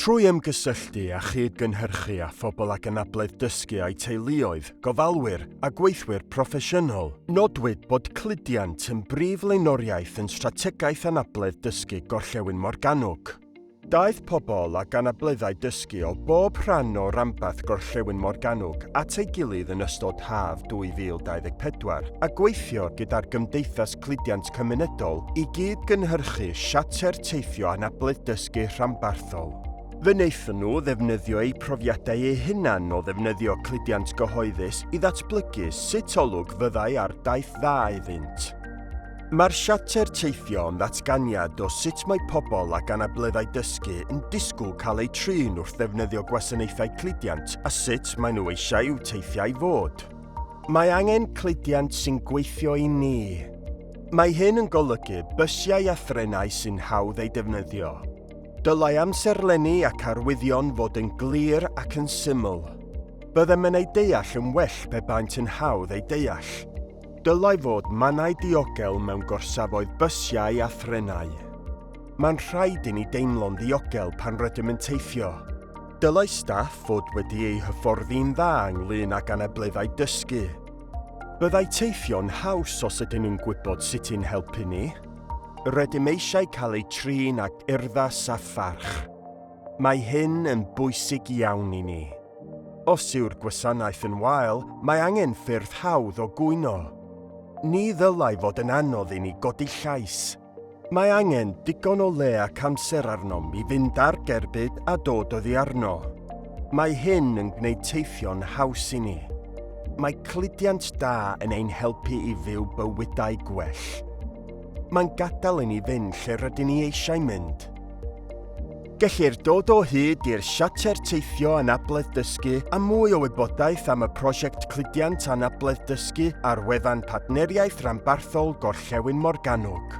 Trwy ymgysylltu a chyd-gynhyrchu â phobl ac anabledd dysgu a'u teuluoedd, gofalwyr a gweithwyr proffesiynol, nodwyd bod cludiant yn brif flaenoriaeth yn Strategaeth Anabledd Dysgu Gorllewin Morgannwg. Daeth pobl ac anableddau dysgu o bob rhan o ranbarth Gorllewin Morgannwg at ei gilydd yn ystod haf 2024 a gweithio gyda'r Gymdeithas cludiant cymunedol i gyd-gynhyrchu siarter teithio anabledd dysgu rhanbarthol. Fe wnaethon nhw ddefnyddio eu profiadau eu hunain o ddefnyddio cludiant gyhoeddus i ddatblygu sut olwg fyddai ar daith dda iddynt. Mae'r siarter teithio yn ddatganiad o sut mae pobl ag anableddau dysgu yn disgwyl cael eu trin wrth ddefnyddio gwasanaethau cludiant a sut maen nhw eisiau i'w teithiau fod. Mae angen cludiant sy'n gweithio i ni. Mae hyn yn golygu bysiau a threnau sy'n hawdd eu defnyddio. Dylai amserlenni ac arwyddion fod yn glir ac yn syml. Byddem yn eu deall yn well pe baent yn hawdd eu deall. Dylai fod mannau diogel mewn gorsafoedd bysiau a threnau. Mae'n rhaid i ni deimlo'n ddiogel pan rydym yn teithio. Dylai staff fod wedi eu hyfforddi'n dda ynglŷn ag anableddau dysgu. Byddai teithio'n haws os ydyn nhw'n gwybod sut i'n helpu ni. Rydym eisiau cael eu trin ag urddas a pharch. Mae hyn yn bwysig iawn i ni. Os yw'r gwasanaeth yn wael, mae angen ffyrdd hawdd o gwyno. Ni ddylai fod yn anodd i ni godi llais. Mae angen digon o le ac amser arnom i fynd ar gerbyd a dod oddi arno. Mae hyn yn gwneud teithio'n haws i ni. Mae cludiant da yn ein helpu i fyw bywydau gwell. Mae'n gadael i ni fynd lle rydyn ni eisiau mynd. Gellir dod o hyd i'r Siarter Teithio Anabledd Dysgu a mwy o wybodaeth am y Prosiect Cludiant Anabledd Dysgu ar wefan Partneriaeth Ranbarthol Gorllewin Morgannwg.